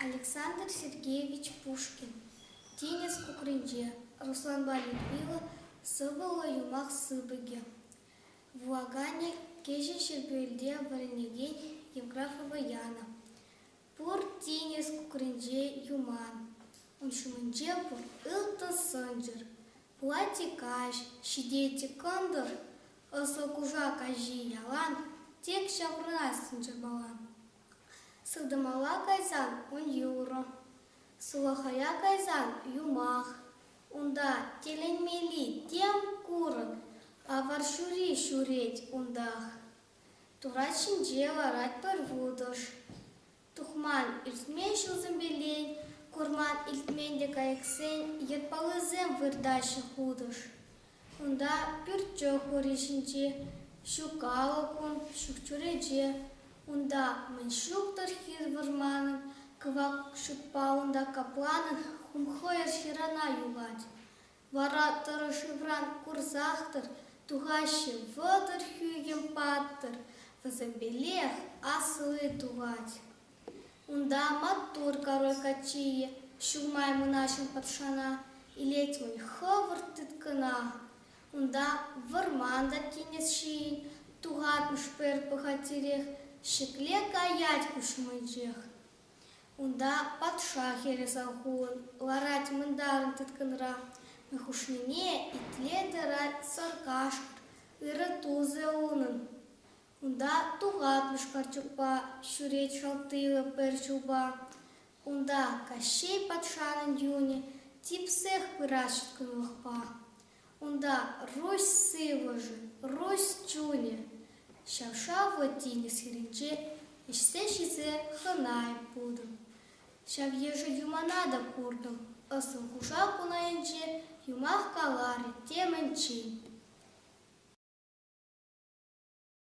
Александр Сергеевич Пушкин тинӗс кукринче Русланпа Людмила сӑвӑллӑ юмах сыпӑкӗ. Вулаканӗ кӗҫӗн Ҫӗрпӳелте вӗренекен Евграфова Яна. Пур тинӗс кукринче юман, ун ҫумӗнче пур ылтӑн сӑнчӑр, платье каҫ, ҫитетчӗ кӑнтӑр, ӑслӑ кушак каҫи ялан тек ҫаврӑнас сӑнчӑрмалан. Сылтӑмала кайсан ун юрӑ, сулахая кайсан юмах. Унта тӗлӗнмелли тем курӑк, авар ҫури ҫӳрет унтах. Турат ҫинче ларатпӑр вутӑш. Тухман иртмен ҫулсем пирен, курман илтмен те кайӑксен йӑтпаллисем выртаҫҫӗ хутӑш. Кунта пӳртчӗ хури ҫинче, ҫук алӑкун ҫук чӳрече. Унта мӗн ҫук-тӑр хир вӑрманӑн, кӑвак шӳтпалӑн та капланӑн хумхӑйӑр ҫырана юлать. Вара тӑрӑшывран курсах-тӑр тухаҫҫӗ, вӑтӑр хӳхӗм паттӑр вӗсемпелех асли тухать. Унта маттур король каччийӗ ҫумай мӑнаҫлӑ патшана илет-мӗн хӑвӑрт тыткӑна. Унта вӑрман та тинӗс ҫийӗн тухатмӑш пӗр пӑхатирех ҫӗкле каять куҫмӑнчех. Унта патша хӗрӗ Салхун ларать мӑнтарӑн тыткӑнра, мӗн хушнине итле тӑрать саркашк, ырӑ тусӗ унӑн. Унта тухатмӑш карчӑкпа ҫӳрет шалттийлӑ пӗр ҫулпа. Унта Каҫҫей патшанӑн юнӗ типсех пырать ҫыткӑнлӑхпа. Унта Руҫ сывлӑшӗ, Руҫ чунӗ, ҫав-шавлӑ тинӗс хирӗнче ӗҫсе ҫисе хӑнай пултӑм. Ҫав йышши юмана та куртӑм. Ӑссун кушак ун айӗнче юмах каларӗ темӗнччен.